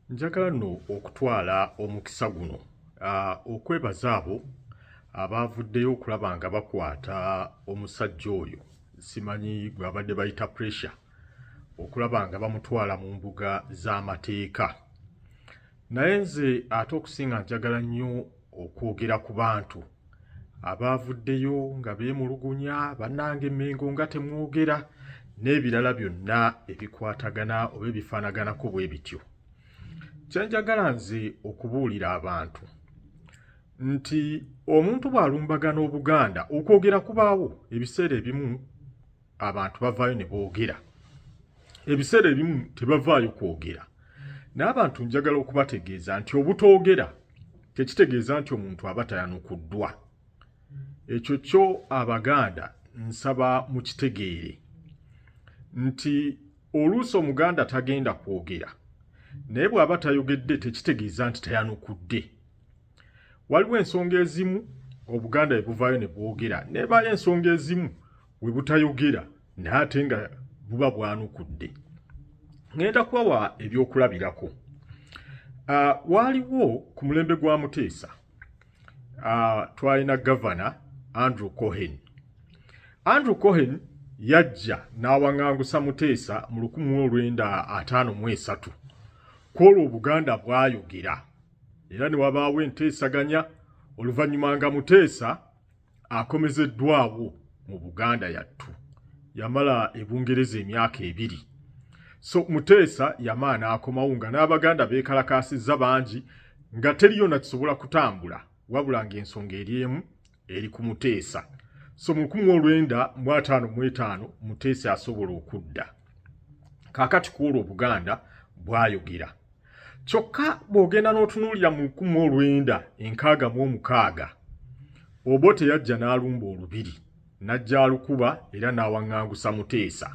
njagala nno okutwala omukisa guno okwebaza abo abaavuddeyo okulaba nga bakwata omusajja oyo simanyi gwabadde bayita pressure okulaba nga bamutwala mu mbuga z'amateeka naye nze ate okusinga njagala nnyo okwogera ku bantu abaavuddeyo nga beemulugunya bannange mengo nga temwogera n'ebirala byonna ebikwatagana oba ebifaanaganako bwe bityo kyenjagala nze okubuulira abantu nti omuntu bw'alumbagana obuganda okwogera kubaawo ebiseera ebimu abantu bavaayo ne boogera ebiseera ebimu tebavaayo kwogera n'abantu njagala okubategeeza nti obutoogera tekitegeeza nti omuntu aba tayanukuddwa ekyo kyo abaganda nsaba mukitegeere nti oluusi omuganda tagenda kwogera naye bw'aba tayogedde tekitegeeza nti tayanukudde waliwo ensonga ezimu obuganda ebuvaayo ne bwogera nebayo ensonga ezimu we butayogera naye ate nga buba bwanukudde ŋŋenda kubawa ebyokulabirako ah, waaliwo ku mulembe gwa muteesa ah, twalina gavana andrew cohen andrew cohen yajja n'awaŋangusa muteesa mu 1953 kwolwo obuganda bwayogera era ne wabaawo enteesaganya oluvannyuma nga muteesa akomezeddwawo mu buganda yattu yamala ebungereza emyaka ebiri so muteesa yamaa n'akomawo nga n'abaganda beekalakaasizza bangi nga teriyo nakisobola kutambula wabula ng'ensonga eri emu eri ku muteesa so mu lukumi olwenda mu ataano mu etaano muteesa asobola okudda kaakati ku olwo obuganda bwayogera kyokka bw'ogenda n'otunuulira mu lukumi olwenda enkaaga mu omukaaga obo teyajja n'alumba olubiri n'ajja alukuba era n'awaŋŋangusa muteesa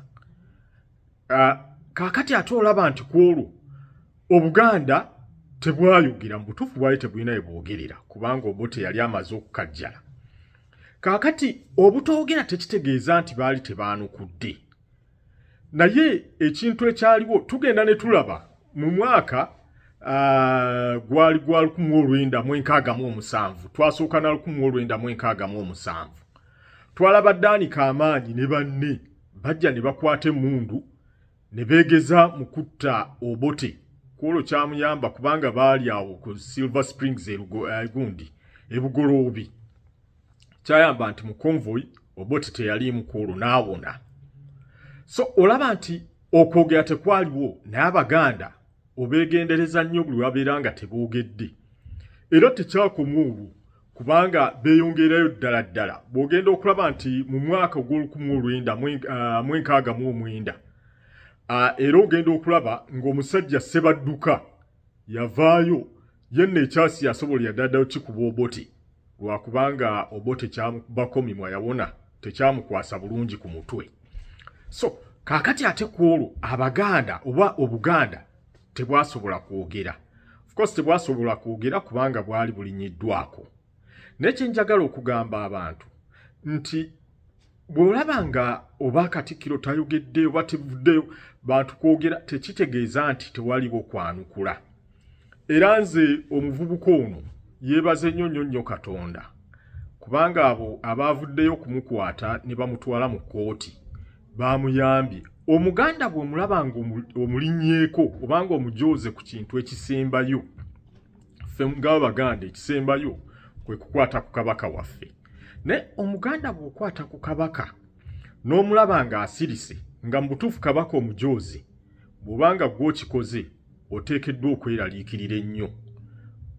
ah, kaakati ate olaba nti ku olwo obuganda tebwayogera mu butuufu bwali tebulina ye bwogerera kubanga obo teyali amaze okukajjala kaakati obutoogera tekitegeeza nti baali tebaanukudde naye ekintu ekyaliwo tugenda ne tulaba mu mwaka ah, gwali gwa lukumu olwenda mu enkaaga mu omusanvu twasooka na lukumu olwenda mu enkaaga mu omusanvu twalaba daani kamaanyi ne banne bajja ne bakwata emundu ne beegeza mu kutta obote kwolwo kyamuyamba kubanga baali awo ku silver springs egundi eh, ebugoloobi kyayamba nti mu convoy oboti teyaliimu ku olwo n'awona so olaba nti okwogera tekwaliwo naye abaganda obeegendereza nnyo buli wabeera nga teboogedde era tekyakoma olwo kubanga beeyongerayo ddala ddala bw'ogenda okulaba nti mu mwaka ogw'olukumu olwenda mwenkaaga ah, mu omwenda ah, era ogenda okulaba ng'omusajja sebadduka yavaayo yenna ekyasi yasobola yadadayo kikuba oboti lwakubanga obote kyabakomimwa yawona tekyamukwasa bulungi ku mutwe so kakati ate ku olwo abaganda oba obuganda tebwasobola kwogera ofcourse tebwasobola kwogera kubanga bwali bulinyiddwako naye kyenjagala okugamba abantu nti bw'olaba nga oba katikkiro tayogedde oba tevuddeyo bantu kwogera tekitegeeza nti tewaliwo kwanukula era nze omuvubuka ono yeebaze nnyo nnyo nnyo katonda kubanga abo abaavuddeyo okumukwata ne bamutwala mu kkooti baamuyambye omuganda bw'omulaba nga omulinyeeko obanga omujooze ku kintu ekisembayo ffe ng'abaganda ekisembayo kwe kukwata ku kabaka waffe naye omuganda bw'okwata ku kabaka n'omulaba ng'asirise nga mu butuufu kabaka omujoozi bw'obanga gw'okikoze oteekeddwa okweraliikirira ennyo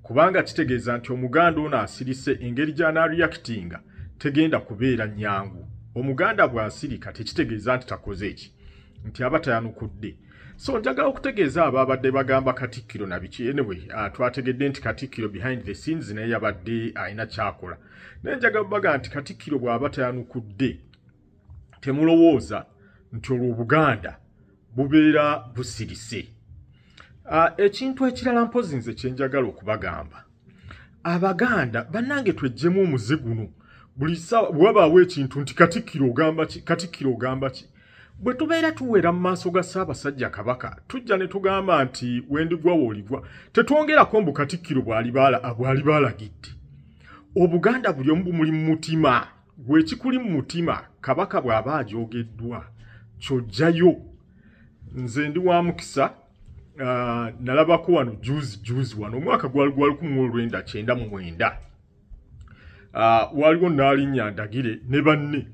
kubanga kitegeeza nti omuganda ono asirise engeri gy'anaariyakitinga tegenda kubeera nnyangu omuganda bw'asirika tekitegeeza nti takoze eki nti aba tayanukudde so njagala okutegeeza abaabadde bagamba katikkiro nabiki anyway uh, twategedde nti katikkiro behind the scenes naye yabadde alina kyakola naye njagala baga nti katikkiro bw'aba tayanukudde temulowooza nti olwo obuganda bubeera busirise uh, ekintu ekirala mpozi nze kyenjagala okubagamba abaganda bannange twejjemu omuze guno buli wabaawo ekintu nti katikkiro ogamba ki katikkiro ogamba ki Bwe tubeera tuwera mu maaso ga Ssaabasajja Kabaka, tujja ne tugamba nti wendigwa wooligwa, tetwongerako mbu Katikkiro bwali baalagidde. Obuganda buli omu bumuli mu mutima, gwekikuli mu mutima, Kabaka bw'aba agyogeddwa, kyojjayo. Nze ndi wa mukisa, ah, nalabako wano juzi juzi wano, omwaka gwali gwa lukumu olwenda kyenda mu mwenda. ah, waliwo naalinya ndagire ne banne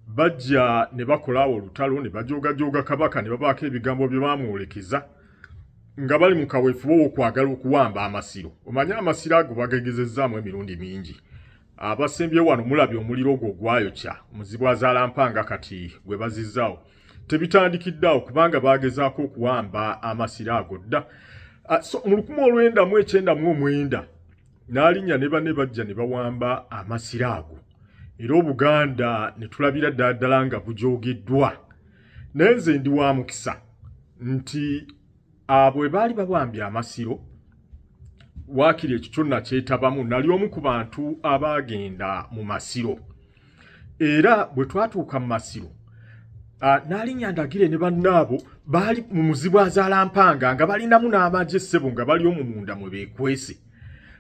bajja ne bakolaawo olutalo ne bajoogajooga kabaka ne babaako ebigambo bye bamwolekeza nga bali mu kaweefube w'okwagala okuwamba amasiro omanye amasiro ago bagegezezzaamu emirundi mingi abasembye wano mulabye omuliro ogwo ogwayokya omuzibu azaalampanga kati gwe bazizzaawo tebitandikiddeawo kubanga baagezaako okuwamba amasiro ago dda ah, mu lukumi olwenda mu ekyenda mu omwenda n'alinnya ne banne bajja ne bawamba amasiro ago era obuganda ne tulabira ddala ddala nga bujoogeddwa naye nze ndi wa mukisa nti abo bwe baali babambye amasiro waakiri ekyo kyonna kyetabamu nali omu ku bantu abaagenda mu masiro era bwe twatuuka mu masiro ah, n'alinnya ndagire ne bannaabo baali mu muzibu azaalampanga nga balinamu n'amagye essebo nga bali omu munda mwe beekwese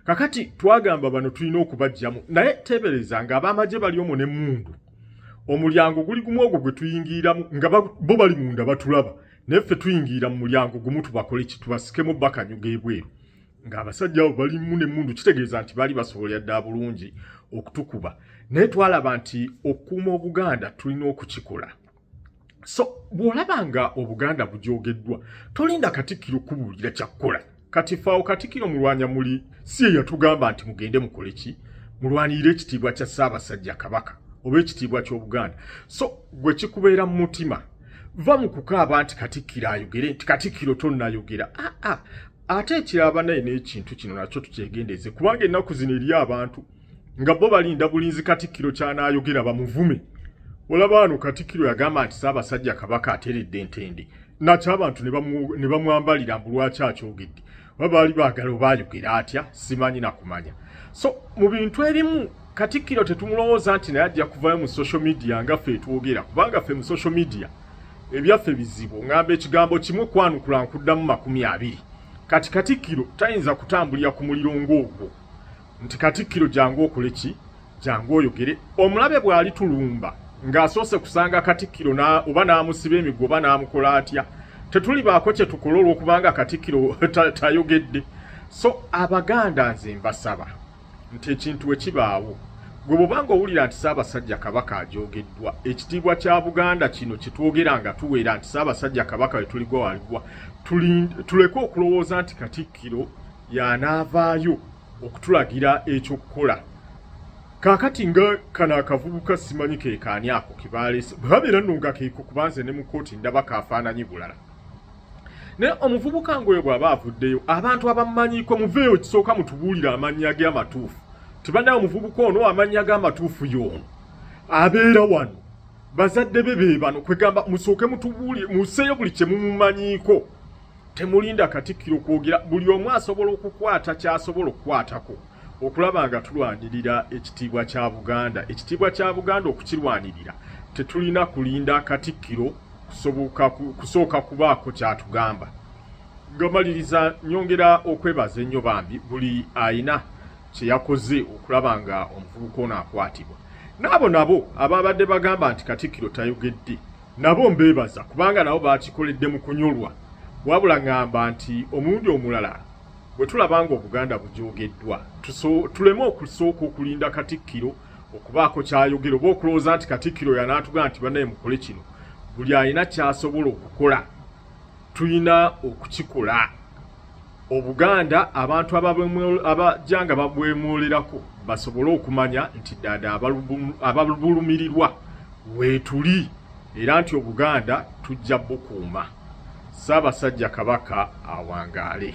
kakati twagamba bano tulina okubajjamu naye teebereza nga ab'amagye bali omu n'emmundu omulyango guli gumu ogwo gwe tuyingiramu nga bo bali munda batulaba naye ffe tuyingira mu mulyango gumu tubakole kitubasikemu bakanyuga ebweru ng'abasajja abo balimu n'emmundu kitegeeza nti baali basobolera ddala bulungi okutukuba naye twalaba nti okukuuma obuganda tulina okukikola so bw'olaba nga obuganda bujoogeddwa tolinda katikkiro kubuulira kyakukola kati faawo katikkiro mulwanya muli si eyatugamba nti mugende mukole ki mulwanirire ekitiibwa kya ssaabasajja kabaka oba ekitiibwa ky'obuganda so gwe kikubeera mu mutima va mu kukaaba nti katikkiro ayogere nti katikkiro tonnayogera aa ah, ah. ate ekiraba naye n'ekintu kino nakyo tukyegendeeze kubanga ennaku zino eri abantu nga bo balinda bulinzi katikkiro kyanaayogera bamuvume olaba wano katikkiro yagamba nti saabasajja kabaka ateredde entende nakyo abantu ne bamwambalira mbu lwaki akyogedde oba baali baagala oba ayogera atya simanyi nakumanya so mu bintu ebimu Katikkiro tetumulowooza nti naye ajja kuvayo mu social media nga ffe etwogera kubanga ffe mu social media ebyaffe bizibu ngamba ekigambo kimu kwanukula nkuddamu makumi abiri kati katikkiro tayinza kutambulira ku muliro ng'ogwo nti katikkiro jangu okole ki jangu oyogere omulabe bw'ali tulumba ng'asoose kusanga katikkiro oba n'amusiba emiggo oba n'amukola atya tetulibaako kye tukola olw'okubanga katikkiro tayogedde so abaganda nze mbasaba nti ekintu bwe kibaawo gwe bwobanga owulira nti ssaabasajja kabaka ajoogeddwa ekitiibwa kya buganda kino kyetwogera nga tuweera nti ssaabasajja kabaka wetuligwa waligwa tuleke okulowooza nti katikkiro yanaavaayo okutulagira ekyokukola kakati nga kano akavubuka simanyi kekaani ako kebaleese bwebabeera nno nga keeko kubanze ne mu kooti ndaba kafaananyi bulala naye omuvubuka ngoyo bw'aba avuddeyo abantu abamumanyiko muveeyo kisooka mutubuulire amannya ge amatuufu tibanaye omuvubuka ono amannya ge amatuufu yoono abeera wano bazadde be be bano kwegamba musooke mutubuulire museeyo buli kye mumumanyiko temulinda katikkiro kwogera buli omu asobola okukwata ky'asobola okukwatako okulaba nga tulwanirira ekitiibwa kya buganda ekitiibwa kya buganda okukirwanirira tetulina kulinda katikkiro kusooka kubaako kyatugamba ngamaliriza nyongera okwebaza ennyo bambi buli ayina kyeyakoze okulaba nga omuvubuka ono akwatibwa naabo nabo ababadde bagamba nti katikkiro tayogedde nabo mbeebaza kubanga nabo bakikoledde mu kunyolwa wabula ngamba nti omulundi omulala Bwe tulaba ng'Obuganda bujoogeddwa, tuleme okusooka okulinda Katikkiro okubaako ky'ayogera oba okulowooza nti Katikkiro yanaatugamba nti banaye mukole kino. Buli alina ky'asobola okukola tulina okukikola. Obuganda abantu abajja nga babwemwolerako basobole okumanya nti ddaada ababulumirirwa weetuli. era nti obuganda tujja bukuuma ssaabasajja kabaka awangaale